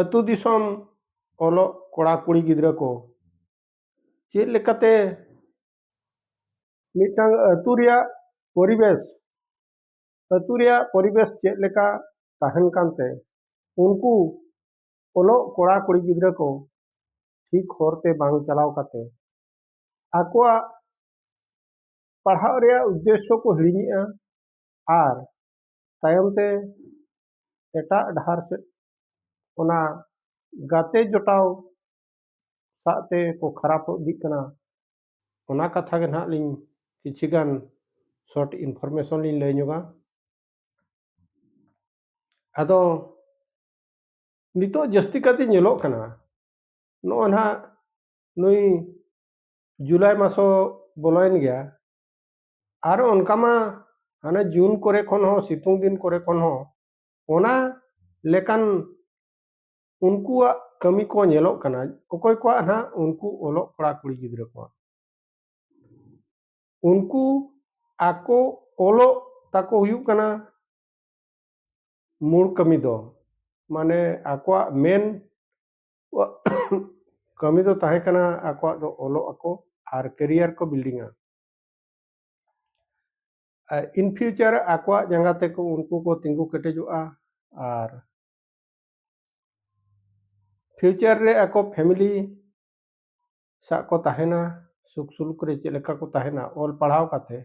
ᱟᱹᱛᱩ ᱫᱤᱥᱚᱢ ᱚᱞᱚᱜ ᱠᱚᱲᱟ ᱠᱩᱲᱤ ᱜᱤᱫᱽᱨᱟᱹ ᱠᱚ ᱪᱮᱫ ᱞᱮᱠᱟᱛᱮ ᱢᱤᱫᱴᱟᱝ ᱟᱹᱛᱩ ᱨᱮᱭᱟᱜ ᱯᱚᱨᱤᱵᱮᱥ ᱟᱹᱛᱩ ᱨᱮᱭᱟᱜ ᱯᱚᱨᱤᱵᱮᱥ ᱪᱮᱫ ᱞᱮᱠᱟ ᱛᱟᱦᱮᱱ ᱠᱟᱱᱛᱮ ᱩᱱᱠᱩ ᱚᱞᱚᱜ ᱠᱚᱲᱟ ᱠᱩᱲᱤ ᱜᱤᱫᱽᱨᱟᱹ ᱠᱚ ᱴᱷᱤᱠ ᱦᱚᱨᱛᱮ ᱵᱟᱝ ᱪᱟᱞᱟᱣ ᱠᱟᱛᱮ ᱟᱠᱚᱣᱟᱜ ᱯᱟᱲᱦᱟᱜ ᱨᱮᱭᱟᱜ ᱩᱫᱽᱫᱮᱥᱥᱚ ᱠᱚ ᱦᱤᱲᱤᱧᱮᱜᱼᱟ ᱟᱨ ᱛᱟᱭᱚᱢ ᱛᱮ ᱮᱴᱟᱜ ᱰᱟᱦᱟᱨ ᱥᱮᱫ ᱚᱱᱟ ᱜᱟᱛᱮ ᱡᱚᱴᱟᱣ ᱥᱟᱜ ᱛᱮ ᱠᱚ ᱠᱷᱟᱨᱟᱯ ᱤᱫᱤᱜ ᱠᱟᱱᱟ ᱚᱱᱟ ᱠᱟᱛᱷᱟ ᱜᱮ ᱱᱟᱦᱟᱜ ᱞᱤᱧ ᱠᱤᱪᱷᱤ ᱜᱟᱱ ᱥᱚᱨᱴ ᱤᱱᱯᱷᱚᱨᱢᱮᱥᱚᱱ ᱞᱤᱧ ᱞᱟᱹᱭ ᱧᱚᱜᱟ ᱟᱫᱚ ᱱᱤᱛᱚᱜ ᱡᱟᱹᱥᱛᱤ ᱠᱟᱛᱮ ᱧᱮᱞᱚᱜ ᱠᱟᱱᱟ ᱱᱚᱜᱼᱚ ᱱᱟᱦᱟᱜ ᱱᱩᱭ ᱡᱩᱞᱟᱭ ᱢᱟᱥᱚ ᱵᱚᱞᱚᱭᱮᱱ ᱜᱮᱭᱟ ᱟᱨ ᱚᱱᱠᱟ ᱢᱟ ᱦᱟᱱᱮ ᱡᱩᱱ ᱠᱚᱨᱮ ᱠᱷᱚᱱ ᱦᱚᱸ ᱥᱤᱛᱩᱝ ᱫᱤᱱ ᱠᱚᱨᱮ ᱠᱷᱚᱱ ᱦᱚᱸ ᱚᱱᱟ ᱞᱮᱠᱟᱱ ᱩᱱᱠᱩᱣᱟᱜ ᱠᱟᱹᱢᱤ ᱠᱚ ᱧᱮᱞᱚᱜ ᱠᱟᱱᱟ ᱚᱠᱚᱭ ᱠᱚᱣᱟᱜ ᱱᱟᱦᱟᱜ ᱩᱱᱠᱩ ᱚᱞᱚᱜ ᱠᱚᱲᱟ ᱠᱩᱲᱤ ᱜᱤᱫᱽᱨᱟᱹ ᱠᱚᱣᱟᱜ ᱩᱱᱠᱩ ᱟᱠᱚ ᱚᱞᱚᱜ ᱛᱟᱠᱚ ᱦᱩᱭᱩᱜ ᱠᱟᱱᱟ ᱢᱩᱲ ᱠᱟᱹᱢᱤ ᱫᱚ ᱢᱟᱱᱮ ᱟᱠᱚᱣᱟᱜ ᱢᱮᱱ ᱠᱟᱹᱢᱤ ᱫᱚ ᱛᱟᱦᱮᱸ ᱠᱟᱱᱟ ᱟᱠᱚᱣᱟᱜ ᱫᱚ ᱚᱞᱚᱜ ᱟᱠᱚ ᱟᱨ ᱠᱮᱨᱤᱭᱟᱨ ᱠᱚ ᱵᱤᱞᱰᱤᱝᱟ ᱤᱱ ᱯᱷᱤᱭᱩᱪᱟᱨ ᱟᱠᱚᱣᱟᱜ ᱡᱟᱸᱜᱟ ᱛᱮᱠᱚ ᱩᱱᱠᱩ ᱠᱚ ᱛᱤᱸᱜᱩ ᱠᱮᱴᱮᱡᱚᱜᱼᱟ ᱟᱨ ᱯᱷᱤᱭᱩᱪᱟᱨ ᱨᱮ ᱟᱠᱚ ᱯᱷᱮᱢᱤᱞᱤ ᱥᱟᱜ ᱠᱚ ᱛᱟᱦᱮᱱᱟ ᱥᱩᱠ ᱥᱩᱞᱩᱠ ᱨᱮ ᱪᱮᱫ ᱞᱮᱠᱟ ᱠᱚ ᱛᱟᱦᱮᱱᱟ ᱚᱞ ᱯᱟᱲᱦᱟᱣ ᱠᱟᱛᱮ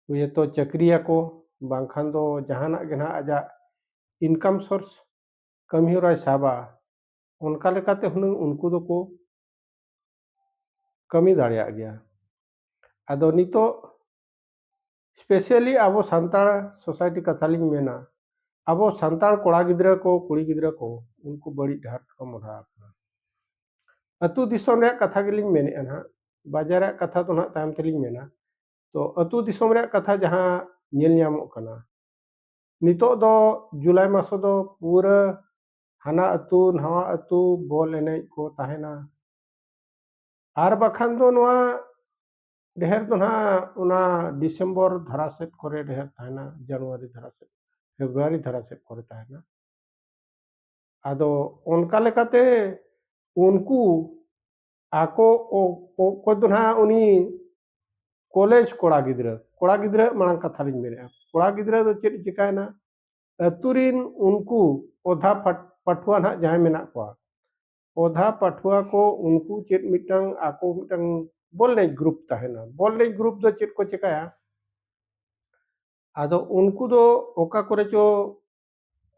ᱦᱚᱭᱛᱚ ᱪᱟᱹᱠᱨᱤᱭᱟᱠᱚ ᱵᱟᱝᱠᱷᱟᱱ ᱫᱚ ᱡᱟᱦᱟᱱᱟᱜ ᱜᱮ ᱱᱟᱦᱟᱜ ᱟᱡᱟᱜ ᱤᱱᱠᱟᱢ ᱥᱳᱨᱥ ᱠᱟᱹᱢᱤᱦᱚᱨᱟᱭ ᱥᱟᱵᱟ ᱚᱱᱠᱟ ᱞᱮᱠᱟᱛᱮ ᱦᱩᱱᱟᱹᱝ ᱩᱱᱠᱩ ᱫᱚᱠᱚ ᱠᱟᱹᱢᱤ ᱫᱟᱲᱮᱭᱟᱜ ᱜᱮᱭᱟ ᱟᱫᱚ ᱱᱤᱛᱚᱜ ᱥᱯᱮᱥᱟᱞᱤ ᱟᱵᱚ ᱥᱟᱱᱛᱟᱲ ᱥᱳᱥᱟᱭᱴᱤ ᱠᱟᱛᱷᱟ ᱞᱤᱧ ᱢᱮᱱᱟ ᱟᱵᱚ ᱥᱟᱱᱛᱟᱲ ᱠᱚᱲᱟ ᱜᱤᱫᱽᱨᱟᱹ ᱠᱚ ᱠᱩᱲᱤ ᱜᱤᱫᱽᱨᱟᱹ ᱠᱚ ᱩᱱᱠᱩ ᱵᱟᱹᱲᱤᱡ ᱰᱟᱦᱟᱨ ᱛᱮᱠᱚ ᱢᱚᱦᱰᱟ ᱟᱠᱟᱱᱟ ᱟᱹᱛᱩ ᱫᱤᱥᱚᱢ ᱨᱮᱭᱟᱜ ᱠᱟᱛᱷᱟ ᱜᱮᱞᱤᱧ ᱢᱮᱱᱮᱫᱼᱟ ᱱᱟᱦᱟᱜ ᱵᱟᱡᱟᱨ ᱨᱮᱭᱟᱜ ᱠᱟᱛᱷᱟ ᱫᱚ ᱱᱟᱦᱟᱜ ᱛᱟᱭᱚᱢ ᱛᱮᱞᱤᱧ ᱢᱮᱱᱟ ᱛᱚ ᱟᱹᱛᱩ ᱫᱤᱥᱚᱢ ᱨᱮᱭᱟᱜ ᱠᱟᱛᱷᱟ ᱡᱟᱦᱟᱸ ᱧᱮᱞ ᱧᱟᱢᱚᱜ ᱠᱟᱱᱟ ᱱᱤᱛᱚᱜ ᱫᱚ ᱡᱩᱞᱟᱭ ᱢᱟᱥ ᱫᱚ ᱯᱩᱨᱟᱹ ᱦᱟᱱᱟ ᱟᱹᱛᱩ ᱱᱟᱣᱟ ᱟᱹᱛᱩ ᱵᱚᱞ ᱮᱱᱮᱡ ᱠᱚ ᱛᱟᱦᱮᱱᱟ ᱟᱨ ᱵᱟᱠᱷᱟᱱ ᱫᱚ ᱱᱚᱣᱟ ᱰᱷᱮᱨ ᱫᱚ ᱱᱟᱦᱟᱜ ᱚᱱᱟ ᱰᱤᱥᱮᱢᱵᱚᱨ ᱫᱷᱟᱨᱟ ᱥᱮᱫ ᱠᱚᱨᱮ ᱰᱷᱮᱨ ᱛᱟᱦᱮᱱᱟ ᱡᱟᱱᱩᱣᱟᱨᱤ ᱫᱷᱟᱨᱟ ᱥᱮᱫ ᱯᱷᱮᱵᱽᱨᱩᱣᱟᱨᱤ ᱫᱷᱟᱨᱟ ᱥᱮᱫ ᱠᱚᱨᱮ ᱛᱟᱦᱮᱱᱟ ᱟᱫᱚ ᱚᱱᱠᱟ ᱞᱮᱠᱟᱛᱮ ᱩᱱᱠᱩ ᱟᱠᱚ ᱚᱠᱚᱭ ᱫᱚ ᱱᱟᱦᱟᱜ ᱩᱱᱤ ᱠᱚᱞᱮᱡᱽ ᱠᱚᱲᱟ ᱜᱤᱫᱽᱨᱟᱹ ᱠᱚᱲᱟ ᱜᱤᱫᱽᱨᱟᱹ ᱢᱟᱲᱟᱝ ᱠᱟᱛᱷᱟ ᱞᱤᱧ ᱢᱮᱱᱮᱫᱼᱟ ᱠᱚᱲᱟ ᱜᱤᱫᱽᱨᱟᱹ ᱫᱚ ᱪᱮᱫ ᱪᱤᱠᱟᱹᱭᱮᱱᱟ ᱟᱹᱛᱩ ᱨᱤᱱ ᱩᱱᱠᱩ ᱚᱫᱷᱟ ᱯᱟᱹᱴᱷᱩᱣᱟᱹ ᱱᱟᱦᱟᱜ ᱡᱟᱦᱟᱸᱭ ᱢᱮᱱᱟᱜ ᱠᱚᱣᱟ ᱚᱫᱷᱟ ᱯᱟᱹᱴᱷᱩᱣᱟᱹ ᱠᱚ ᱩᱱᱠᱩ ᱪᱮᱫ ᱢᱤᱫᱴᱟᱝ ᱟᱠᱚ ᱢᱤᱫᱴᱟᱝ ᱵᱚᱞ ᱮᱱᱮᱡ ᱜᱨᱩᱯ ᱛᱟᱦᱮᱱᱟ ᱵᱚᱞ ᱮᱱᱮᱡ ᱜᱨᱩᱯ ᱫᱚ ᱪᱮᱫ ᱠᱚ ᱪᱮᱠᱟᱭᱟ ᱟᱫᱚ ᱩᱱᱠᱩ ᱫᱚ ᱚᱠᱟ ᱠᱚᱨᱮ ᱪᱚ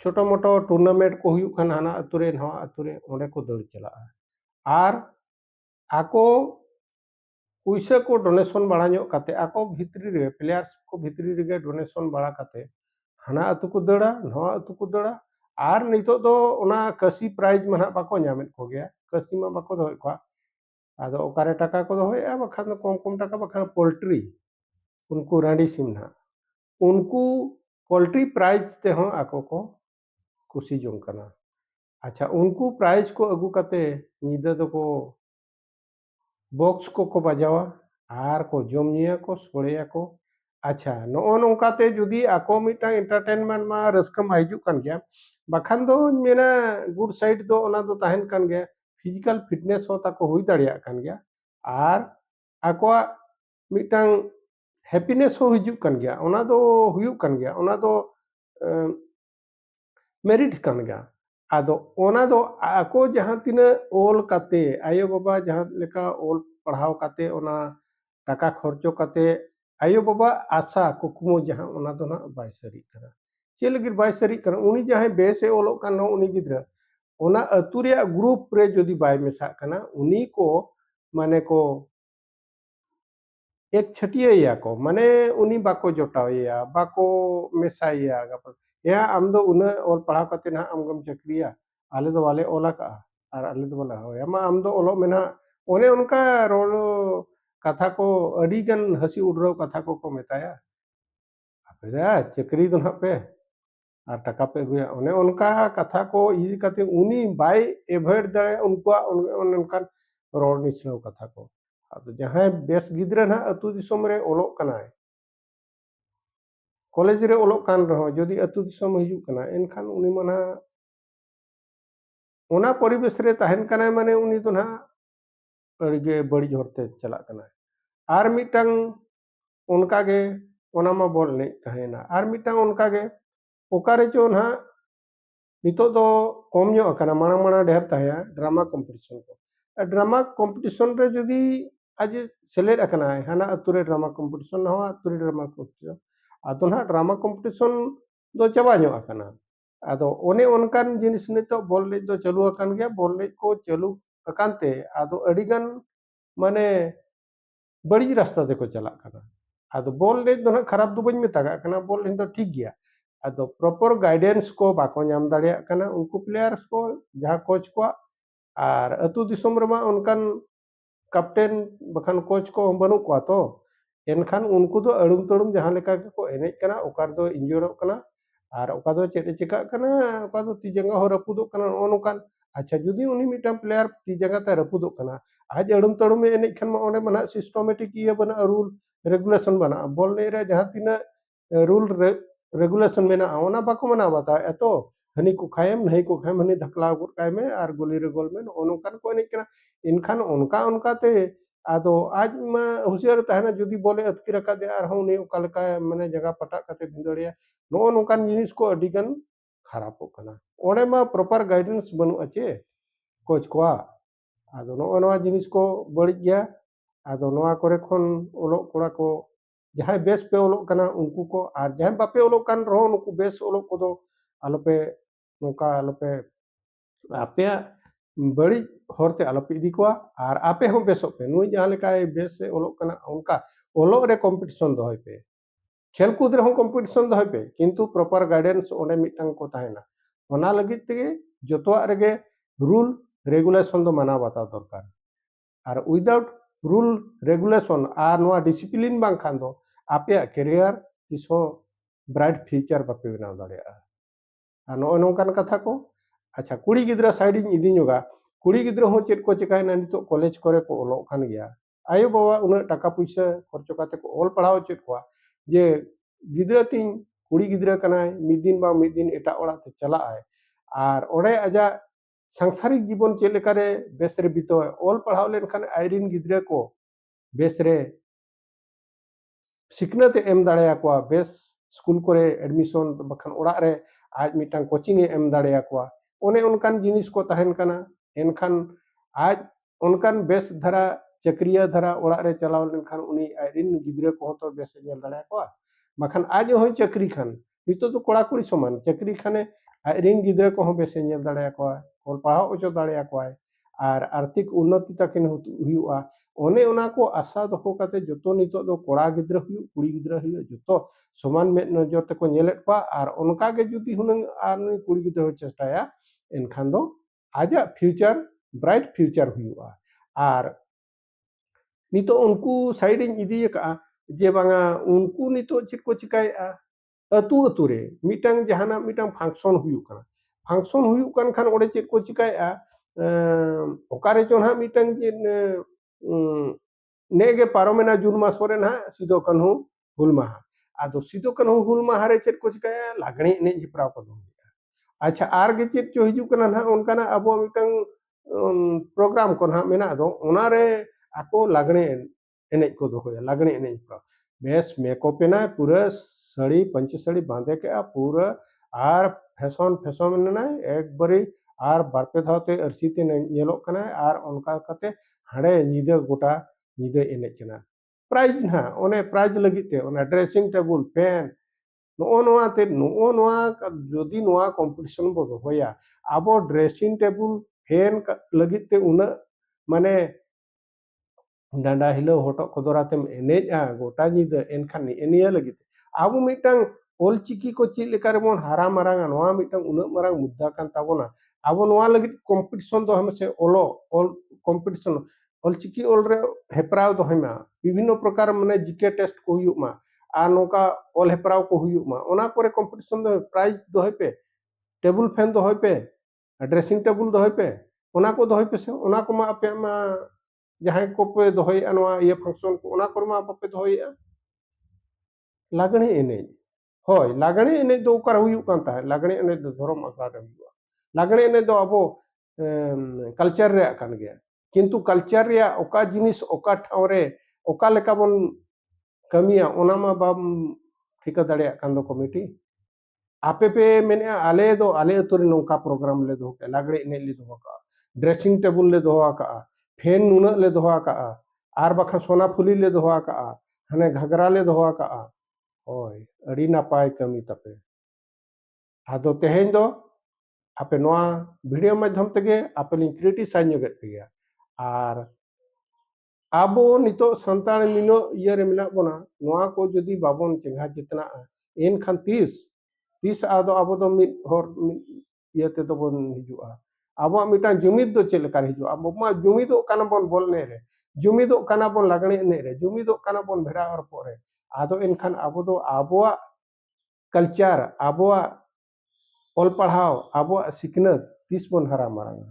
ᱪᱷᱳᱴᱳ ᱢᱳᱴᱳ ᱴᱩᱨᱱᱟᱢᱮᱱᱴ ᱠᱚ ᱦᱩᱭᱩᱜ ᱠᱷᱟᱱ ᱦᱟᱱᱟ ᱟᱹᱛᱩ ᱨᱮ ᱱᱚᱣᱟ ᱟᱹᱛᱩ ᱨᱮ ᱚᱸᱰᱮ ᱠᱚ ᱫᱟᱹᱲ ᱪᱟᱞᱟᱜᱼᱟ ᱟᱨ ᱟᱠᱚ ᱯᱩᱭᱥᱟᱹ ᱠᱚ ᱰᱳᱱᱮᱥᱚᱱ ᱵᱟᱲᱟ ᱧᱚᱜ ᱠᱟᱛᱮ ᱟᱠᱚ ᱵᱷᱤᱛᱨᱤ ᱨᱮ ᱯᱞᱮᱭᱟᱨᱥ ᱠᱚ ᱵᱷᱤᱛᱨᱤ ᱨᱮᱜᱮ ᱰᱳᱱᱮᱥᱚᱱ ᱵᱟᱲᱟ ᱠᱟᱛᱮ ᱦᱟᱱᱟ ᱟᱹᱛᱩ ᱠᱚ ᱫᱟᱹᱲᱟ ᱱᱚᱣᱟ ᱟᱹᱛᱩ ᱠᱚ ᱫᱟᱹᱲᱟ ᱟᱨ ᱱᱤᱛᱚᱜ ᱫᱚ ᱚᱱᱟ ᱠᱟᱹᱥᱤ ᱯᱨᱟᱭᱤᱡᱽ ᱢᱟ ᱱᱟᱦᱟᱜ ᱵᱟᱠᱚ ᱧᱟᱢᱮᱫ ᱠᱚᱜᱮᱭᱟ ᱠᱟᱹᱥᱤ ᱢᱟ ᱵᱟᱠᱚ ᱫᱚᱦᱚᱭᱮᱫ ᱠᱚᱣᱟ ᱟᱫᱚ ᱚᱠᱟᱨᱮ ᱴᱟᱠᱟ ᱠᱚ ᱫᱚᱦᱚᱭᱮᱫᱼᱟ ᱵᱟᱠᱷᱟᱱ ᱫᱚ ᱠᱚᱢ ᱠᱚᱢ ᱴᱟᱠᱟ ᱵᱟᱠᱷᱟᱱ ᱯᱳᱞᱴᱨᱤ ᱩᱱᱠᱩ ᱨᱟᱺᱰᱤ ᱥᱤᱢ ᱱᱟᱦᱟᱜ ᱩᱱᱠᱩ ᱯᱳᱞᱴᱨᱤ ᱯᱨᱟᱭᱤᱡᱽ ᱛᱮᱦᱚᱸ ᱟᱠᱚ ᱠᱚ ᱠᱩᱥᱤ ᱡᱚᱝ ᱠᱟᱱᱟ ᱟᱪᱪᱷᱟ ᱩᱱᱠᱩ ᱯᱨᱟᱭᱤᱡᱽ ᱠᱚ ᱟᱹᱜᱩ ᱠᱟᱛᱮ ᱧᱤᱫᱟᱹ ᱫᱚᱠᱚ ᱵᱚᱠᱥ ᱠᱚᱠᱚ ᱵᱟᱡᱟᱣᱟ ᱟᱨ ᱠᱚ ᱡᱚᱢ ᱧᱩᱭᱟᱠᱚ ᱥᱚᱲᱮᱭᱟᱠᱚ ᱟᱪᱪᱷᱟ ᱱᱚᱜᱼᱚ ᱱᱚᱝᱠᱟᱛᱮ ᱡᱩᱫᱤ ᱟᱠᱚ ᱢᱤᱫᱴᱟᱝ ᱮᱱᱴᱟᱨᱴᱮᱱᱢᱮᱱᱴ ᱢᱟ ᱨᱟᱹᱥᱠᱟᱹ ᱢᱟ ᱦᱤᱡᱩᱜ ᱠᱟᱱ ᱜᱮᱭᱟ ᱵᱟᱠᱷᱟᱱ ᱫᱚᱧ ᱢᱮᱱᱟ ᱜᱩᱰ ᱥᱟᱭᱤᱰ ᱫᱚ ᱚᱱᱟ ᱫᱚ ᱛᱟᱦᱮᱱ ᱠᱟᱱ ᱜᱮᱭᱟ ᱯᱷᱤᱡᱤᱠᱟᱞ ᱯᱷᱤᱴᱱᱮᱥ ᱦᱚᱸ ᱛᱟᱠᱚ ᱦᱩᱭ ᱫᱟᱲᱮᱭᱟᱜ ᱠᱟᱱ ᱜᱮᱭᱟ ᱟᱨ ᱟᱠᱚᱣᱟᱜ ᱢᱤᱫᱴᱟᱝ ᱦᱮᱯᱤᱱᱮᱥ ᱦᱚᱸ ᱦᱤᱡᱩᱜ ᱠᱟᱱ ᱜᱮᱭᱟ ᱚᱱᱟ ᱫᱚ ᱦᱩᱭᱩᱜ ᱠᱟᱱ ᱜᱮᱭᱟ ᱚᱱᱟ ᱫᱚ ᱢᱮᱨᱤᱴ ᱠᱟᱱ ᱜᱮᱭᱟ ᱟᱫᱚ ᱚᱱᱟ ᱫᱚ ᱟᱠᱚ ᱡᱟᱦᱟᱸ ᱛᱤᱱᱟᱹᱜ ᱚᱞ ᱠᱟᱛᱮ ᱟᱭᱳ ᱵᱟᱵᱟ ᱡᱟᱦᱟᱸ ᱞᱮᱠᱟ ᱚᱞ ᱯᱟᱲᱦᱟᱣ ᱠᱟᱛᱮ ᱚᱱᱟ ᱴᱟᱠᱟ ᱠᱷᱚᱨᱪᱚ ᱠᱟᱛᱮ ᱟᱭᱳ ᱵᱟᱵᱟ ᱟᱥᱟ ᱠᱩᱠᱢᱩ ᱡᱟᱦᱟᱸ ᱚᱱᱟ ᱫᱚ ᱱᱟᱜ ᱵᱟᱭ ᱥᱟᱹᱨᱤᱜ ᱠᱟᱱᱟ ᱪᱮᱫ ᱞᱟᱹᱜᱤᱫ ᱵᱟᱭ ᱥᱟᱹᱨᱤᱜ ᱠᱟᱱᱟ ᱩᱱᱤ ᱡᱟᱦᱟᱸᱭ ᱵᱮᱥᱮ ᱚᱞᱚᱜ ᱠᱟᱱ ᱨᱮᱦᱚᱸ ᱩᱱᱤ ᱜᱤᱫᱽᱨᱟᱹ ᱚᱱᱟ ᱟᱹᱛᱩ ᱨᱮᱭᱟᱜ ᱜᱨᱩᱯ ᱨᱮ ᱡᱩᱫᱤ ᱵᱟᱭ ᱢᱮᱥᱟᱜ ᱠᱟᱱᱟ ᱩᱱᱤ ᱠᱚ ᱢᱟᱱᱮ ᱠᱚ ᱮᱠ ᱪᱷᱟᱹᱴᱤᱭᱟᱹᱭᱟ ᱠᱚ ᱢᱟᱱᱮ ᱩᱱᱤ ᱵᱟᱠᱚ ᱡᱚᱴᱟᱣᱮᱭᱟ ᱵᱟᱠᱚ ᱢᱮᱥᱟᱭᱮᱭᱟ ᱜᱟᱯᱟ ᱮᱭᱟ ᱟᱢ ᱫᱚ ᱩᱱᱟᱹᱜ ᱚᱞ ᱯᱟᱲᱦᱟᱣ ᱠᱟᱛᱮ ᱱᱟᱜ ᱟᱢ ᱜᱮᱢ ᱪᱟᱹᱠᱨᱤᱭᱟ ᱟᱞᱮ ᱫᱚ ᱵᱟᱞᱮ ᱚᱞ ᱟᱠᱟᱜᱼᱟ ᱟᱨ ᱟᱞᱮ ᱫᱚ ᱵᱟᱞᱮ ᱦᱳᱭᱟ ᱢᱟ ᱟᱢ ᱫᱚ ᱚᱞᱚᱜ ᱢᱮ ᱱᱟᱜ ᱚᱱᱮ ᱚᱱᱠᱟ ᱨᱚᱲ ᱠᱟᱛᱷᱟ ᱠᱚ ᱟᱹᱰᱤ ᱜᱟᱱ ᱦᱟᱹᱥᱤ ᱩᱰᱨᱟᱹᱣ ᱠᱟᱛᱷᱟ ᱠᱚᱠᱚ ᱢᱮᱛᱟᱭᱟ ᱟᱯᱮ ᱫᱚ ᱪᱟᱹᱠᱨᱤ ᱫᱚ ᱱᱟᱜ ᱯᱮ ᱟᱨ ᱴᱟᱠᱟ ᱯᱮ ᱟᱹᱜᱩᱭᱟ ᱚᱱᱮ ᱚᱱᱠᱟ ᱠᱟᱛᱷᱟ ᱠᱚ ᱤᱫᱤ ᱠᱟᱛᱮ ᱩᱱᱤ ᱵᱟᱭ ᱮᱵᱷᱚᱭᱮᱰ ᱫᱟᱲᱮᱭᱟᱜᱼᱟ ᱩᱱᱠᱩᱣᱟᱜ ᱚᱱᱮ ᱚᱱᱠᱟᱱ ᱨᱚᱲ ᱱᱤᱪᱷᱞᱟᱹᱣ ᱠᱟᱛᱷᱟ ᱠᱚ ᱟᱫᱚ ᱡᱟᱦᱟᱸᱭ ᱵᱮᱥ ᱜᱤᱫᱽᱨᱟᱹ ᱱᱟᱜ ᱟᱹᱛᱩ ᱫᱤᱥᱚᱢ ᱨᱮ ᱚᱞᱚᱜ ᱠᱟᱱᱟᱭ ᱠᱚᱞᱮᱡᱽ ᱨᱮ ᱚᱞᱚᱜ ᱠᱟᱱ ᱨᱮᱦᱚᱸ ᱡᱩᱫᱤ ᱟᱹᱛᱩ ᱫᱤᱥᱚᱢ ᱦᱤᱡᱩᱜ ᱠᱟᱱᱟ ᱮᱱᱠᱷᱟᱱ ᱩᱱᱤ ᱢᱟ ᱱᱟᱜ ᱚᱱᱟ ᱯᱚᱨᱤᱵᱮᱥ ᱨᱮ ᱛᱟᱦᱮᱱ ᱠᱟᱱᱟᱭ ᱢᱟᱱᱮ ᱩᱱᱤ ᱫᱚ ᱱᱟᱜ ᱟᱹᱰᱤᱜᱮ ᱵᱟᱹᱲᱤᱡ ᱦᱚᱨᱛᱮ ᱪᱟᱞᱟᱜ ᱠᱟᱱᱟᱭ ᱟᱨ ᱢᱤᱫᱴᱟᱝ ᱚᱱᱠᱟ ᱜᱮ ᱚᱱᱟ ᱢᱟ ᱵᱚᱞ ᱮᱱᱮᱡ ᱛᱟᱦᱮᱸᱭᱮᱱᱟ ᱟᱨ ᱢᱤᱫᱴᱟᱝ ᱚᱱᱠᱟ ᱜᱮ ᱚᱠᱟ ᱨᱮᱪᱚ ᱱᱟᱦᱟᱜ ᱱᱤᱛᱚᱜ ᱫᱚ ᱠᱚᱢ ᱧᱚᱜ ᱟᱠᱟᱱᱟ ᱢᱟᱲᱟᱝ ᱢᱟᱲᱟᱝ ᱰᱷᱮᱨ ᱛᱟᱦᱮᱸᱭᱟ ᱰᱨᱟᱢᱟ ᱠᱚᱢᱯᱤᱴᱤᱥᱚᱱ ᱠᱚ ᱰᱨᱟᱢᱟ ᱠᱚᱢᱯᱤᱴᱤᱥᱚᱱ ᱨᱮ ᱡᱩᱫᱤ ᱟᱡ ᱥᱮᱞᱮᱫ ᱟᱠᱟᱱᱟᱭ ᱦᱟᱱᱟ ᱟᱛᱳ ᱨᱮ ᱰᱨᱟᱢᱟ ᱠᱚᱢᱯᱤᱴᱤᱥᱚᱱ ᱱᱟᱣᱟ ᱟᱛᱳ ᱨᱮ ᱰᱨᱟᱢᱟ ᱠᱚᱢᱯᱤᱴᱤᱥᱚᱱ ᱟᱫᱚ ᱱᱟᱦᱟᱜ ᱰᱨᱟᱢᱟ ᱠᱚᱢᱯᱤᱴᱤᱥᱚᱱ ᱫᱚ ᱪᱟᱵᱟ ᱧᱚᱜ ᱟᱠᱟᱱᱟ ᱟᱫᱚ ᱚᱱᱮ ᱚᱱᱠᱟᱱ ᱡᱤᱱᱤᱥ ᱱᱤᱛᱚᱜ ᱵᱚᱞ ᱮᱱᱮᱡ ᱫᱚ ᱪᱟᱹᱞᱩ ᱟᱠᱟᱱ ᱜᱮᱭᱟ ᱵᱚᱞ ᱮᱱᱮᱡ ᱠᱚ ᱪᱟᱹᱞᱩ ᱟᱠᱟᱱ ᱛᱮ ᱟᱫᱚ ᱟᱹᱰᱤ ᱜᱟᱱ ᱢᱟᱱᱮ ᱵᱟᱹᱲᱤᱡ ᱨᱟᱥᱛᱟ ᱛᱮᱠᱚ ᱪᱟᱞᱟᱜ ᱠᱟᱱᱟ ᱟᱫᱚ ᱵᱚᱞ ᱮᱱᱮᱡ ᱫᱚ ᱱᱟᱜ ᱠᱷᱟᱨᱟᱯ ᱫᱚ ᱵᱟᱹᱧ ᱢᱮᱛᱟᱜᱟᱜ ᱠᱟᱱᱟ ᱵᱚᱞ ᱮᱱᱮᱡ ᱫᱚ ᱴᱷᱤᱠ ᱜᱮᱭᱟ ᱟᱫᱚ ᱯᱨᱚᱯᱚᱨ ᱜᱟᱭᱰᱮᱱᱥ ᱠᱚ ᱵᱟᱠᱚ ᱧᱟᱢ ᱫᱟᱲᱮᱭᱟᱜ ᱠᱟᱱᱟ ᱩᱱᱠᱩ ᱯᱞᱮᱭᱟᱨᱥ ᱠᱚ ᱡᱟᱦᱟᱸ ᱠᱳᱪ ᱠᱚᱣᱟᱜ ᱟᱨ ᱟᱹᱛᱩ ᱫᱤᱥᱚᱢ ᱨᱮᱢᱟ ᱚᱱᱠᱟᱱ ᱠᱟᱯᱴᱮᱱ ᱵᱟᱠᱷᱟᱱ ᱠᱳᱪ ᱠᱚ ᱵᱟᱹᱱᱩᱜ ᱠᱚᱣᱟ ᱛᱚ ᱮᱱᱠᱷᱟᱱ ᱩᱱᱠᱩ ᱫᱚ ᱟᱹᱲᱩᱢ ᱛᱟᱹᱲᱩᱢ ᱡᱟᱦᱟᱸ ᱞᱮᱠᱟ ᱜᱮᱠᱚ ᱮᱱᱮᱡ ᱠᱟᱱᱟ ᱚᱠᱟ ᱨᱮᱫᱚ ᱤᱱᱡᱚᱨᱚᱜ ᱠᱟᱱᱟ ᱟᱨ ᱚᱠᱟ ᱫᱚ ᱪᱮᱫ ᱮ ᱪᱮᱠᱟᱜ ᱠᱟᱱᱟ ᱚᱠᱟ ᱫᱚ ᱛᱤ ᱡᱟᱸᱜᱟ ᱦᱚᱸ ᱨᱟᱹᱯᱩᱫᱚᱜ ᱠᱟᱱᱟ ᱱᱚᱜᱼᱚ ᱱᱚᱝᱠᱟᱱ ᱟᱪᱪᱷᱟ ᱡᱩᱫᱤ ᱩᱱᱤ ᱢᱤᱫᱴᱟᱝ ᱯᱞᱮᱭᱟᱨ ᱛᱤ ᱡᱟᱸᱜᱟ ᱛᱟᱭ ᱨᱟᱹᱯᱩᱫᱚᱜ ᱠᱟᱱᱟ ᱟᱡ ᱟᱹᱲᱩᱢ ᱛᱟᱹᱲᱩᱢᱮ ᱮᱱᱮᱡ ᱠᱷᱟᱱ ᱢᱟ ᱚᱸᱰᱮ ᱢᱟ ᱱᱟᱦᱟᱜ ᱥᱤᱥᱴᱚᱢᱮᱴᱤᱠ ᱤᱭᱟᱹ ᱵᱟᱹᱱᱩᱜᱼᱟ ᱨᱩᱞ ᱨᱮᱜᱩᱞᱮᱥᱚᱱ ᱵᱟᱹᱱᱩᱜᱼᱟ ᱵᱚᱞ ᱮᱱᱮᱡ ᱨᱮ ᱡᱟᱦᱟᱸ ᱛᱤᱱᱟᱹᱜ ᱨᱩᱞ ᱨᱮᱜᱩᱞᱮᱥᱚᱱ ᱢᱮᱱᱟᱜᱼᱟ ᱚᱱᱟ ᱵᱟᱠᱚ ᱢᱟᱱᱟᱣ ᱵᱟᱛᱟᱣᱮᱫᱼᱟ ᱛᱚ ᱦᱟᱹᱱᱤ ᱠᱚᱠᱷᱟᱭᱮᱢ ᱱᱟᱹᱭ ᱠᱚᱠᱷᱟᱭᱮᱢ ᱦᱟᱹᱱᱤ ᱫᱷᱟᱠᱞᱟᱣ ᱜᱚᱫ ᱠᱟᱭᱢᱮ ᱟᱨ ᱜᱩᱞᱤ ᱨᱮ ᱜᱚᱞ ᱢᱮ ᱱᱚᱜᱼᱚ ᱱᱚᱝᱠᱟᱱ ᱠᱚ ᱮᱱᱮᱡ ᱠᱟᱱᱟ ᱮᱱᱠᱷᱟᱱ ᱚᱱᱠᱟ ᱚᱱᱠᱟᱛᱮ ᱟᱫᱚ ᱟᱡ ᱢᱟ ᱦᱩᱥᱤᱭᱟᱨ ᱛᱟᱦᱮᱱᱟ ᱡᱩᱫᱤ ᱵᱚᱞᱮ ᱟᱹᱛᱠᱤᱨ ᱟᱠᱟᱫᱮᱭᱟ ᱟᱨᱦᱚᱸ ᱩᱱᱤ ᱚᱠᱟ ᱞᱮᱠᱟ ᱢᱟᱱᱮ ᱡᱟᱸᱜᱟ ᱯᱟᱴᱟᱜ ᱠᱟᱛᱮ ᱵᱷᱤᱸᱫᱟᱹᱲᱮᱭᱟ ᱱᱚᱜᱼᱚ ᱱᱚᱝᱠᱟᱱ ᱡᱤᱱᱤᱥ ᱠᱚ ᱟᱹᱰᱤ ᱜᱟᱱ ᱠᱷᱟᱨᱟᱯᱚᱜ ᱠᱟᱱᱟ ᱚᱸᱰᱮ ᱢᱟ ᱯᱨᱚᱯᱟᱨ ᱜᱟᱭᱰᱮᱱᱥ ᱵᱟᱹᱱᱩᱜᱼᱟ ᱪᱮ ᱠᱳᱪ ᱠᱚᱣᱟᱜ ᱟᱫᱚ ᱱᱚᱜᱼᱚ ᱱᱚᱣᱟ ᱡᱤᱱᱤᱥ ᱠᱚ ᱵᱟᱹᱲᱤᱡ ᱜᱮᱭᱟ ᱟᱫᱚ ᱱᱚᱣᱟ ᱠᱚᱨᱮ ᱠᱷᱚᱱ ᱚᱞᱚᱜ ᱠᱚᱲᱟ ᱠᱚ ᱡᱟᱦᱟᱸᱭ ᱵᱮᱥ ᱯᱮ ᱚᱞᱚᱜ ᱠᱟᱱᱟ ᱩᱱᱠᱩ ᱠᱚ ᱟᱨ ᱡᱟᱦᱟᱸᱭ ᱵᱟᱯᱮ ᱚᱞᱚᱜ ᱠᱟᱱ ᱨᱮᱦᱚᱸ ᱱᱩᱠᱩ ᱵᱮᱥ ᱚᱞᱚᱜ ᱠᱚᱫᱚ ᱟᱞᱚᱯᱮ ᱱᱚᱝᱠᱟ ᱟᱞᱚᱯᱮ ᱟᱯᱮᱭᱟᱜ ᱵᱟᱹᱲᱤᱡ ᱦᱚᱨᱛᱮ ᱟᱞᱚᱯᱮ ᱤᱫᱤ ᱠᱚᱣᱟ ᱟᱨ ᱟᱯᱮ ᱦᱚᱸ ᱵᱮᱥᱚᱜ ᱯᱮ ᱱᱩᱭ ᱡᱟᱦᱟᱸ ᱞᱮᱠᱟᱭ ᱵᱮᱥ ᱮ ᱚᱞᱚᱜ ᱠᱟᱱᱟ ᱚᱱᱠᱟ ᱚᱞᱚᱜ ᱨᱮ ᱠᱚᱢᱯᱤᱴᱤᱥᱚᱱ ᱫᱚᱦᱚᱭ ᱯᱮ ᱠᱷᱮᱞ ᱠᱩᱫ ᱨᱮᱦᱚᱸ ᱠᱚᱢᱯᱤᱴᱤᱥᱚᱱ ᱫᱚᱦᱚᱭ ᱯᱮ ᱠᱤᱱᱛᱩ ᱯᱨᱚᱯᱟᱨ ᱜᱟᱭᱰᱮᱱᱥ ᱚᱸᱰᱮ ᱢᱤᱫᱴᱟᱝ ᱠᱚ ᱛᱟᱦᱮᱱᱟ ᱚᱱᱟ ᱞᱟᱹᱜᱤᱫ ᱛᱮᱜᱮ ᱡᱚᱛᱚᱣᱟᱜ ᱨᱮᱜᱮ ᱨᱩᱞ ᱨᱮᱜᱩᱞᱮᱥᱚᱱ ᱫᱚ ᱢᱟᱱᱟᱣ ᱵᱟᱛᱟᱣ ᱫᱚᱨᱠᱟᱨ ᱟᱨ ᱩᱭᱫᱟᱣᱩᱴ ᱨᱩᱞ ᱨᱮᱜᱩᱞᱮᱥᱚᱱ ᱟᱨ ᱱᱚᱣᱟ ᱰᱤᱥᱤᱯᱞᱤᱱ ᱵᱟᱝᱠᱷᱟᱱ ᱫᱚ ᱟᱯᱮᱭᱟᱜ ᱠᱮᱨᱤᱭᱟᱨ ᱛᱤᱥᱦᱚᱸ ᱵᱨᱟᱭᱤᱴ ᱯᱷᱤᱭᱩᱪᱟᱨ ᱵᱟᱯᱮ ᱵᱮᱱᱟᱣ ᱫᱟᱲᱮᱭᱟᱜᱼᱟ ᱟᱨ ᱱᱚᱜᱼᱚᱭ ᱱᱚᱝᱠᱟᱱ ᱠᱟᱛᱷᱟ ᱠᱚ ᱟᱪᱪᱷᱟ ᱠᱩᱲᱤ ᱜᱤᱫᱽᱨᱟᱹ ᱥᱟᱭᱤᱰ ᱤᱧ ᱤᱫᱤ ᱧᱚᱜᱟ ᱠᱩᱲᱤ ᱜᱤᱫᱽᱨᱟᱹ ᱦᱚᱸ ᱪᱮᱫ ᱠᱚ ᱪᱮᱠᱟᱭᱮᱱᱟ ᱱᱤᱛᱚᱜ ᱠᱚᱞᱮᱡᱽ ᱠᱚᱨᱮ ᱠᱚ ᱚᱞᱚᱜ ᱠᱟᱱ ᱜᱮᱭᱟ ᱟᱭᱳ ᱵᱟᱵᱟ ᱩᱱᱟᱹᱜ ᱴᱟᱠᱟ ᱯᱩᱭᱥᱟᱹ ᱠᱷᱚᱨᱪᱚ ᱠᱟᱛᱮ ᱠᱚ ᱚᱞ ᱯᱟᱲᱦᱟᱣ ᱦᱚᱪᱚᱭᱮᱫ ᱠᱚᱣᱟ ᱡᱮ ᱜᱤᱫᱽᱨᱟᱹ ᱛᱤᱧ ᱠᱩᱲᱤ ᱜᱤᱫᱽᱨᱟᱹ ᱠᱟᱱᱟᱭ ᱢᱤᱫ ᱫᱤᱱ ᱵᱟᱝ ᱢᱤᱫ ᱫᱤᱱ ᱮᱴᱟᱜ ᱚᱲᱟᱜ ᱛᱮ ᱪᱟᱞᱟᱜ ᱟᱭ ᱟᱨ ᱚᱸᱰᱮ ᱟᱡᱟᱜ ᱥᱟᱝᱥᱟᱨᱤᱠ ᱡᱤᱵᱚᱱ ᱪᱮᱫ ᱞᱮᱠᱟᱨᱮ ᱵᱮᱥ ᱨᱮ ᱵᱤᱛᱟᱹᱣᱟᱭ ᱚᱞ ᱯᱟᱲᱦᱟᱣ ᱞᱮᱱᱠᱷᱟᱱ ᱟᱡᱨᱮᱱ ᱜᱤᱫᱽᱨᱟᱹ ᱠᱚ ᱵᱮᱥ ᱨᱮ ᱥᱤᱠᱷᱱᱟᱹᱛ ᱮ ᱮᱢ ᱫᱟᱲᱮ ᱟᱠᱚᱣᱟ ᱵᱮᱥ ᱥᱠᱩᱞ ᱠᱚᱨᱮ ᱮᱰᱢᱤᱥᱚᱱ ᱵᱟᱠᱷᱟᱱ ᱚᱲᱟᱜ ᱨᱮ ᱟᱡ ᱢᱤᱫᱴᱟᱝ ᱠᱳᱪᱤᱝ ᱮ ᱮᱢ ᱫᱟᱲᱮ ᱟᱠᱚᱣᱟ ᱚᱱᱮ ᱚᱱᱠᱟᱱ ᱡᱤᱱᱤᱥ ᱠᱚ ᱛᱟᱦᱮᱱ ᱠᱟᱱᱟ ᱮᱱᱠᱷᱟᱱ ᱟᱡ ᱚᱱᱠᱟᱱ ᱵᱮᱥ ᱫᱷᱟᱨᱟ ᱪᱟᱹᱠᱨᱤᱭᱟᱹ ᱫᱷᱟᱨᱟ ᱚᱲᱟᱜ ᱨᱮ ᱪᱟᱞᱟᱣ ᱞᱮᱱᱠᱷᱟᱱ ᱩᱱᱤ ᱟᱡ ᱨᱮᱱ ᱜᱤᱫᱽᱨᱟᱹ ᱠᱚᱦᱚᱸ ᱛᱚ ᱵᱮᱥ ᱮ ᱧᱮᱞ ᱫᱟᱲᱮ ᱟᱠᱚᱣᱟ ᱵᱟᱠᱷᱟᱱ ᱟᱡ ᱦᱚᱸᱭ ᱪᱟᱹᱠᱨᱤ ᱠᱷᱟᱱ ᱱᱤᱛᱚᱜ ᱫᱚ ᱠᱚᱲᱟ ᱠᱩᱲᱤ ᱥᱚᱢᱟᱱ ᱪᱟᱹᱠᱨᱤ ᱠᱷᱟᱱᱮ ᱟᱡ ᱨᱮᱱ ᱜᱤᱫᱽᱨᱟᱹ ᱠᱚᱦᱚᱸ ᱵᱮᱥᱮ ᱧᱮᱞ ᱫᱟᱲᱮᱭᱟᱠᱚᱣᱟ ᱚᱞ ᱯᱟᱲᱦᱟᱣ ᱦᱚᱪᱚ ᱫᱟᱲᱮᱭᱟᱠᱚᱣᱟᱭ ᱟᱨ ᱟᱨᱛᱷᱤᱠ ᱩᱱᱱᱚᱛᱤ ᱛᱟᱹᱠᱤᱱ ᱦᱩᱭᱩᱜᱼᱟ ᱚᱱᱮ ᱚᱱᱟ ᱠᱚ ᱟᱥᱟ ᱫᱚᱦᱚ ᱠᱟᱛᱮ ᱡᱚᱛᱚ ᱱᱤᱛᱚᱜ ᱫᱚ ᱠᱚᱲᱟ ᱜᱤᱫᱽᱨᱟᱹ ᱦᱩᱭᱩᱜ ᱠᱩᱲᱤ ᱜᱤᱫᱽᱨᱟᱹ ᱦᱩᱭᱩᱜ ᱡᱚᱛᱚ ᱥᱚᱢᱟᱱ ᱢᱮᱫ ᱱᱚᱡᱚᱨ ᱛᱮᱠᱚ ᱧᱮᱞᱮᱫ ᱠᱚᱣᱟ ᱟᱨ ᱚᱱᱠᱟ ᱜᱮ ᱡᱩᱫᱤ ᱦᱩᱱᱟᱹᱝ ᱟᱨ ᱱᱩᱭ ᱠᱩᱲᱤ ᱜᱤᱫᱽᱨᱟᱹ ᱦᱚᱸ ᱪᱮᱥᱴᱟᱭᱟ ᱮᱱᱠᱷᱟᱱ ᱫᱚ ᱟᱡᱟᱜ ᱯᱷᱤᱭᱩᱪᱟᱨ ᱵᱨᱟᱭᱤᱴ ᱯᱷᱤᱭᱩᱪᱟᱨ ᱦᱩᱭᱩᱜᱼᱟ ᱟᱨ ᱱᱤᱛᱚᱜ ᱩᱱᱠᱩ ᱥᱟᱭᱤᱰ ᱤᱧ ᱤᱫᱤ ᱟᱠᱟᱫᱼᱟ ᱡᱮ ᱵᱟᱝᱟ ᱩᱱᱠᱩ ᱱᱤᱛᱚᱜ ᱪᱮᱫ ᱠᱚ ᱪᱤᱠᱟᱹᱭᱮᱫᱼᱟ ᱟᱹᱛᱩ ᱟᱹᱛᱩ ᱨᱮ ᱢᱤᱫᱴᱟᱝ ᱡᱟᱦᱟᱱᱟᱜ ᱢᱤᱫᱴᱟᱝ ᱯᱷᱟᱝᱥᱚᱱ ᱦᱩᱭᱩᱜ ᱠᱟᱱᱟ ᱯᱷᱟᱝᱥᱚᱱ ᱦᱩᱭᱩᱜ ᱠᱟᱱ ᱠᱷᱟᱱ ᱚᱸᱰᱮ ᱪᱮᱫ ᱠᱚ ᱪᱤᱠᱟᱹᱭᱮᱫᱼᱟ ᱚᱠᱟᱨᱮ ᱪᱚ ᱱᱟᱦᱟᱜ ᱢᱤᱫᱴᱟᱝ ᱱᱮᱜᱮ ᱯᱟᱨᱚᱢᱮᱱᱟ ᱡᱩᱱ ᱢᱟᱥ ᱠᱚᱨᱮ ᱱᱟᱦᱟᱜ ᱥᱤᱫᱚ ᱠᱟᱹᱱᱦᱩ ᱦᱩᱞ ᱢᱟᱦᱟ ᱟᱫᱚ ᱥᱤᱫᱩ ᱠᱟᱹᱱᱦᱩ ᱦᱩᱞ ᱢᱟᱦᱟ ᱨᱮ ᱪᱮᱫ ᱠᱚ ᱪᱤᱠᱟᱹᱭᱟ ᱞᱟᱜᱽᱬᱮ ᱮᱱᱮᱡ ᱦᱮᱯᱨᱟᱣ ᱠᱚ ᱫᱚᱦᱚᱭᱟ ᱟᱪᱪᱷᱟ ᱟᱨ ᱜᱮ ᱪᱮᱫ ᱪᱚ ᱦᱤᱡᱩᱜ ᱠᱟᱱᱟ ᱱᱟᱦᱟᱜ ᱚᱱᱠᱟᱱᱟᱜ ᱟᱵᱚᱣᱟᱜ ᱢᱤᱫᱴᱟᱝ ᱯᱨᱳᱜᱨᱟᱢ ᱠᱚ ᱱᱟᱦᱟᱜ ᱢᱮᱱᱟᱜ ᱫᱚ ᱚᱱᱟᱨᱮ ᱟᱠᱚ ᱞᱟᱜᱽᱬᱮ ᱮᱱᱮᱡ ᱠᱚ ᱫᱚᱦᱚᱭᱟ ᱞᱟᱜᱽᱬᱮ ᱮᱱᱮᱡ ᱦᱮᱯᱨᱟᱣ ᱵᱮᱥ ᱢᱮᱠᱚᱯ ᱮᱱᱟᱭ ᱯᱩᱨᱟᱹ ᱥᱟᱹᱲᱤ ᱯᱟᱹᱧᱪᱤ ᱥᱟᱹᱲᱤ ᱵᱟᱸᱫᱮ ᱠᱮᱜᱼᱟ ᱯᱩᱨᱟᱹ ᱟᱨ ᱯᱷᱮᱥᱚᱱ ᱯᱷᱮᱥᱚᱱ ᱮᱱᱟᱭ ᱮᱠᱵᱟᱨᱮ ᱟᱨ ᱵᱟᱨᱯᱮ ᱫᱷᱟᱣ ᱛᱮ ᱟᱹᱨᱥᱤ ᱛᱮ ᱧᱮᱞᱚᱜ ᱠᱟᱱᱟᱭ ᱟᱨ ᱚᱱᱠᱟ ᱠᱟᱛᱮ ᱦᱟᱸᱰᱮ ᱧᱤᱫᱟᱹ ᱜᱚᱴᱟ ᱧᱤᱫᱟᱹ ᱮᱱᱮᱡ ᱠᱟᱱᱟ ᱯᱨᱟᱭᱤᱡᱽ ᱱᱟᱦᱟᱜ ᱚᱱᱮ ᱯᱨᱟᱭᱤᱡᱽ ᱞᱟᱹᱜᱤᱫ ᱛᱮ ᱚᱱᱟ ᱰᱨᱮᱥᱤᱝ ᱴᱮᱵᱩᱞ ᱯᱮᱱ ᱱᱚᱜᱼᱚ ᱱᱚᱣᱟ ᱛᱮ ᱱᱚᱜᱼᱚ ᱱᱚᱣᱟ ᱡᱩᱫᱤ ᱱᱚᱣᱟ ᱠᱚᱢᱯᱤᱴᱤᱥᱚᱱ ᱵᱚ ᱫᱚᱦᱚᱭᱟ ᱟᱵᱚ ᱰᱨᱮᱥᱤᱝ ᱴᱮᱵᱩᱞ ᱯᱷᱮᱱ ᱞᱟᱹᱜᱤᱫ ᱛᱮ ᱩᱱᱟᱹᱜ ᱢᱟᱱᱮ ᱰᱟᱸᱰᱟ ᱦᱤᱞᱟᱹᱣ ᱦᱚᱴᱚᱜ ᱠᱚᱫᱚᱨᱟᱛᱮᱢ ᱮᱱᱮᱡᱼᱟ ᱜᱚᱴᱟ ᱧᱤᱫᱟᱹ ᱮᱱᱠᱷᱟᱱ ᱱᱤᱭᱟᱹ ᱱᱤᱭᱟᱹ ᱞᱟᱹᱜᱤᱫ ᱟᱵᱚ ᱢᱤᱫᱴᱟᱝ ᱚᱞᱪᱤᱠᱤ ᱠᱚ ᱪᱮᱫ ᱞᱮᱠᱟ ᱨᱮᱵᱚᱱ ᱦᱟᱨᱟ ᱢᱟᱨᱟᱝᱟ ᱱᱚᱣᱟ ᱢᱤᱫᱴᱟᱝ ᱩᱱᱟᱹᱜ ᱢᱟᱨᱟᱝ ᱢᱩᱫᱽᱫᱟ ᱠᱟᱱ ᱛᱟᱵᱚᱱᱟ ᱟᱵᱚ ᱱᱚᱣᱟ ᱞᱟᱹᱜᱤᱫ ᱠᱚᱢᱯᱤᱴᱤᱥᱚᱱ ᱫᱚ ᱦᱟᱢᱮᱥᱮ ᱚᱞᱚᱜ ᱚᱞ ᱠᱚᱢᱯᱤᱴᱤᱥᱚᱱ ᱚᱞᱪᱤᱠᱤ ᱚᱞ ᱨᱮ ᱦᱮᱯᱨᱟᱣ ᱫᱚᱦᱚᱭ ᱢᱟ ᱵᱤᱵᱷᱤᱱᱱᱚ ᱯᱨᱚᱠᱟᱨ ᱢᱟᱱᱮ ᱡᱤᱠᱮ ᱴᱮᱥᱴ ᱠᱚ ᱦᱩᱭᱩᱜ ᱢᱟ ᱟᱨ ᱱᱚᱝᱠᱟ ᱚᱞ ᱦᱮᱯᱨᱟᱣ ᱠᱚ ᱦᱩᱭᱩᱜ ᱢᱟ ᱚᱱᱟ ᱠᱚᱨᱮ ᱠᱚᱢᱯᱤᱴᱤᱥᱚᱱ ᱫᱚ ᱯᱨᱟᱭᱤᱡᱽ ᱫᱚᱦᱚᱭ ᱯᱮ ᱴᱮᱵᱩᱞ ᱯᱷᱮᱱ ᱫᱚᱦᱚᱭ ᱯᱮ ᱰᱨᱮᱥᱤᱝ ᱴᱮᱵᱩᱞ ᱫᱚᱦᱚᱭ ᱯᱮ ᱚᱱᱟ ᱠᱚ ᱫᱚᱦᱚᱭ ᱯᱮ ᱥᱮ ᱚᱱᱟ ᱠᱚᱢᱟ ᱟᱯᱮᱭᱟᱜ ᱢᱟ ᱡᱟᱦᱟᱸᱭ ᱠᱚᱯᱮ ᱫᱚᱦᱚᱭᱮᱫᱼᱟ ᱱᱚᱣᱟ ᱤᱭᱟᱹ ᱯᱷᱟᱝᱥᱚᱱ ᱠᱚ ᱚᱱᱟ ᱠᱚᱨᱮ ᱢᱟ ᱵᱟᱯᱮ ᱫᱚᱦᱚᱭᱮᱫᱼᱟ ᱞᱟᱜᱽᱬᱮ ᱮᱱᱮᱡ ᱦᱳᱭ ᱞᱟᱜᱽᱬᱮ ᱮᱱᱮᱡ ᱫᱚ ᱚᱠᱟᱨᱮ ᱦᱩᱭᱩᱜ ᱠᱟᱱ ᱛᱟᱦᱮᱸᱫ ᱞᱟᱜᱽᱬᱮ ᱮᱱᱮᱡ ᱫᱚ ᱫᱷᱚᱨᱚᱢ ᱟᱠᱷᱲᱟ ᱨᱮ ᱦᱩᱭᱩᱜᱼᱟ ᱞᱟᱜᱽᱬᱮ ᱮᱱᱮᱡ ᱫᱚ ᱟᱵᱚ ᱠᱟᱞᱪᱟᱨ ᱨᱮᱭᱟᱜ ᱠᱟᱱ ᱜᱮᱭᱟ ᱠᱤᱱᱛᱩ ᱠᱟᱞᱪᱟᱨ ᱨᱮᱭᱟᱜ ᱚᱠᱟ ᱡᱤᱱᱤᱥ ᱚᱠᱟ ᱴᱷᱟᱶ ᱨᱮ ᱚᱠᱟ ᱞᱮᱠᱟ ᱵᱚᱱ ᱠᱟᱹᱢᱤᱭᱟ ᱚᱱᱟ ᱢᱟ ᱵᱟᱢ ᱴᱷᱤᱠᱟᱹ ᱫᱟᱲᱮᱭᱟᱜ ᱠᱟᱱ ᱫᱚ ᱠᱚᱢᱤᱴᱤ ᱟᱯᱮ ᱯᱮ ᱢᱮᱱᱮᱜᱼᱟ ᱟᱞᱮ ᱫᱚ ᱟᱞᱮ ᱟᱹᱛᱩ ᱨᱮ ᱱᱚᱝᱠᱟ ᱯᱨᱳᱜᱨᱟᱢ ᱞᱮ ᱫᱚᱦᱚ ᱠᱮᱜᱼᱟ ᱞᱟᱜᱽᱲᱮ ᱮᱱᱮᱡ ᱞᱮ ᱫᱚᱦᱚ ᱠᱟᱜᱼᱟ ᱰᱨᱮᱥᱤᱝ ᱴᱮᱵᱩᱞ ᱞᱮ ᱫᱚᱦᱚ ᱟᱠᱟᱜᱼᱟ ᱯᱷᱮᱱ ᱱᱩᱱᱟᱹᱜ ᱞᱮ ᱫᱚᱦᱚ ᱟᱠᱟᱜᱼᱟ ᱟᱨ ᱵᱟᱠᱷᱟᱱ ᱥᱚᱱᱟ ᱯᱷᱩᱞᱤ ᱞᱮ ᱫᱚᱦᱚ ᱟᱠᱟᱜᱼᱟ ᱦᱟᱱᱮ ᱜᱷᱟᱜᱽᱨᱟ ᱞᱮ ᱫᱚᱦᱚ ᱟᱠᱟᱜᱼᱟ ᱦᱳᱭ ᱟᱹᱰᱤ ᱱᱟᱯᱟᱭ ᱠᱟᱹᱢᱤ ᱛᱟᱯᱮ ᱟᱫᱚ ᱛᱮᱦᱮᱧ ᱫᱚ ᱟᱯᱮ ᱱᱚᱣᱟ ᱵᱷᱤᱰᱤᱭᱳ ᱢᱟᱫᱽᱫᱷᱚᱢ ᱛᱮᱜᱮ ᱟᱯᱮ ᱞᱤᱧ ᱠᱨᱤᱴᱤᱥᱟᱭᱤᱡᱽ ᱧᱚᱜᱮᱫ ᱯᱮᱭᱟ ᱟᱨ ᱟᱵᱚ ᱱᱤᱛᱚᱜ ᱥᱟᱱᱛᱟᱲ ᱱᱤᱱᱟᱹᱜ ᱤᱭᱟᱹᱨᱮ ᱢᱮᱱᱟᱜ ᱵᱚᱱᱟ ᱱᱚᱣᱟ ᱠᱚ ᱡᱩᱫᱤ ᱵᱟᱵᱚᱱ ᱪᱮᱸᱜᱷᱟ ᱪᱮᱛᱱᱟᱜᱼᱟ ᱮᱱᱠᱷᱟᱱ ᱛᱤᱥ ᱛᱤᱥ ᱟᱫᱚ ᱟᱵᱚ ᱫᱚ ᱢᱤᱫ ᱦᱚᱲ ᱢᱤᱫ ᱤᱭᱟᱹ ᱛᱮᱫᱚ ᱵᱚᱱ ᱦᱤᱡᱩᱜᱼᱟ ᱟᱵᱚᱣᱟᱜ ᱢᱤᱫᱴᱟᱝ ᱡᱩᱢᱤᱫ ᱫᱚ ᱪᱮᱫ ᱞᱮᱠᱟᱨᱮ ᱦᱤᱡᱩᱜᱼᱟ ᱟᱵᱚ ᱢᱟ ᱡᱩᱢᱤᱫᱚᱜ ᱠᱟᱱᱟ ᱵᱚᱱ ᱵᱚᱞ ᱮᱱᱮᱡ ᱨᱮ ᱡᱩᱢᱤᱫᱚᱜ ᱠᱟᱱᱟ ᱵᱚᱱ ᱞᱟᱜᱽᱬᱮ ᱮᱱᱮᱡ ᱨᱮ ᱡᱩᱢᱤᱫᱚᱜ ᱠᱟᱱᱟ ᱵᱚᱱ ᱵᱷᱮᱲᱟ ᱦᱚᱨᱯᱚᱜ ᱨᱮ ᱟᱫᱚ ᱮᱱᱠᱷᱟᱱ ᱟᱵᱚ ᱫᱚ ᱟᱵᱚᱣᱟᱜ ᱠᱟᱞᱪᱟᱨ ᱟᱵᱚᱣᱟᱜ ᱚᱞ ᱯᱟᱲᱦᱟᱣ ᱟᱵᱚᱣᱟᱜ ᱥᱤᱠᱷᱱᱟᱹᱛ ᱛᱤᱥ ᱵᱚᱱ ᱦᱟᱨᱟ ᱢᱟᱨᱟᱝᱟ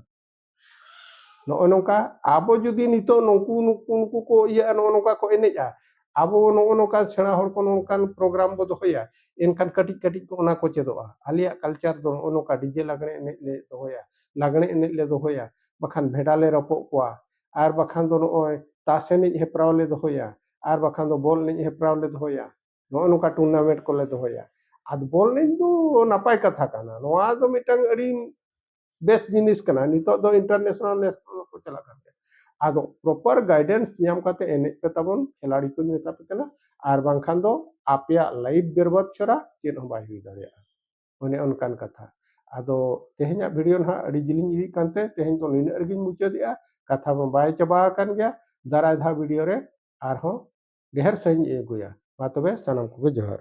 ᱱᱚᱜᱼᱚ ᱱᱚᱝᱠᱟ ᱟᱵᱚ ᱡᱩᱫᱤ ᱱᱤᱛᱚᱜ ᱱᱩᱠᱩ ᱱᱩᱠᱩ ᱱᱩᱠᱩ ᱠᱚ ᱤᱭᱟᱹᱜᱼᱟ ᱱᱚᱜᱼᱚ ᱱᱚᱝᱠᱟ ᱠᱚ ᱮᱱᱮᱡᱼᱟ ᱟᱵᱚ ᱱᱚᱜᱼᱚ ᱱᱚᱝᱠᱟ ᱥᱮᱬᱟ ᱦᱚᱲ ᱠᱚ ᱱᱚᱝᱠᱟᱱ ᱯᱨᱳᱜᱨᱟᱢ ᱵᱚ ᱫᱚᱦᱚᱭᱟ ᱮᱱᱠᱷᱟᱱ ᱠᱟᱹᱴᱤᱡ ᱠᱟᱹᱴᱤᱡ ᱠᱚ ᱚᱱᱟ ᱠᱚ ᱪᱮᱫᱚᱜᱼᱟ ᱟᱞᱮᱭᱟᱜ ᱠᱟᱞᱪᱟᱨ ᱫᱚ ᱱᱚᱜᱼᱚ ᱱᱚᱝᱠᱟ ᱰᱤᱡᱮ ᱞᱟᱜᱽᱬᱮ ᱮᱱᱮᱡ ᱞᱮ ᱫᱚᱦᱚᱭᱟ ᱞᱟᱜᱽᱬᱮ ᱮᱱᱮᱡ ᱞᱮ ᱫᱚᱦᱚᱭᱟ ᱵᱟᱠᱷᱟᱱ ᱵᱷᱮᱰᱟ ᱞᱮ ᱨᱚᱯᱚᱜ ᱠᱚᱣᱟ ᱟᱨ ᱵᱟᱠᱷᱟᱱ ᱫᱚ ᱱᱚᱜᱼᱚᱭ ᱛᱟᱥ ᱮᱱᱮᱡ ᱦᱮᱯᱨᱟᱣ ᱞᱮ ᱫᱚᱦᱚᱭᱟ ᱟᱨ ᱵᱟᱠᱷᱟᱱ ᱫᱚ ᱵᱚᱞ ᱮᱱᱮᱡ ᱦᱮᱯᱨᱟᱣ ᱞᱮ ᱫᱚᱦᱚᱭᱟ ᱱᱚᱜᱼᱚ ᱱᱚᱝᱠᱟ ᱴᱩᱨᱱᱟᱢᱮᱱᱴ ᱠᱚᱞᱮ ᱫᱚᱦᱚᱭᱟ ᱟᱫᱚ ᱵᱚᱞ ᱮᱱᱮᱡ ᱫᱚ ᱱᱟᱯᱟᱭ ᱠᱟᱛᱷᱟ ᱠᱟᱱᱟ ᱱᱚᱣᱟ ᱫᱚ ᱢᱤᱫᱴᱟᱝ ᱟᱹᱰᱤ ᱵᱮᱥ ᱡᱤᱱᱤᱥ ᱠᱟᱱᱟ ᱱᱤᱛᱚᱜ ᱫᱚ ᱤᱱᱴᱟᱨᱱᱮᱥᱱᱟᱞ ᱱᱮᱥᱱᱟᱞ ᱠᱚ ᱪᱟᱞᱟᱜ ᱠᱟᱱ ᱜᱮᱭᱟ ᱟᱫᱚ ᱯᱨᱚᱯᱟᱨ ᱜᱟᱭᱰᱮᱱᱥ ᱧᱟᱢ ᱠᱟᱛᱮ ᱮᱱᱮᱡ ᱯᱮ ᱛᱟᱵᱚᱱ ᱠᱷᱮᱞᱟᱲᱤ ᱠᱚᱧ ᱢᱮᱛᱟ ᱯᱮ ᱠᱟᱱᱟ ᱟᱨ ᱵᱟᱝᱠᱷᱟᱱ ᱫᱚ ᱟᱯᱮᱭᱟᱜ ᱞᱟᱭᱤᱯᱷ ᱵᱮᱨᱵᱟᱫ ᱪᱷᱟᱲᱟ ᱪᱮᱫ ᱦᱚᱸ ᱵᱟᱭ ᱦᱩᱭ ᱫᱟᱲᱮᱭᱟᱜᱼᱟ ᱚᱱᱮ ᱚᱱᱠᱟᱱ ᱠᱟᱛᱷᱟ ᱟᱫᱚ ᱛᱮᱦᱮᱧᱟᱜ ᱵᱷᱤᱰᱤᱭᱳ ᱱᱟᱦᱟᱜ ᱟᱹᱰᱤ ᱡᱤᱞᱤᱧ ᱤᱫᱤᱜ ᱠᱟᱱᱛᱮ ᱛᱮᱦᱮᱧ ᱫᱚ ᱱᱤᱱᱟᱹᱜ ᱨᱮᱜᱤᱧ ᱢᱩᱪᱟᱹᱫᱮᱜᱼᱟ ᱠᱟᱛᱷᱟ ᱢᱟ ᱵᱟᱭ ᱪᱟᱵᱟ ᱟᱠᱟᱱ ᱜᱮᱭᱟ ᱫᱟᱨᱟᱭ ᱫᱷᱟᱣ ᱵᱷᱤᱰᱤᱭᱳ ᱨᱮ ᱟᱨᱦᱚᱸ ᱰᱷᱮᱨ ᱥᱟᱺᱦᱤᱡ ᱤᱧ ᱟᱹᱜᱩᱭᱟ ᱢᱟ ᱛᱚᱵᱮ ᱥᱟᱱᱟᱢ ᱠᱚᱜᱮ ᱡᱚᱦᱟᱨ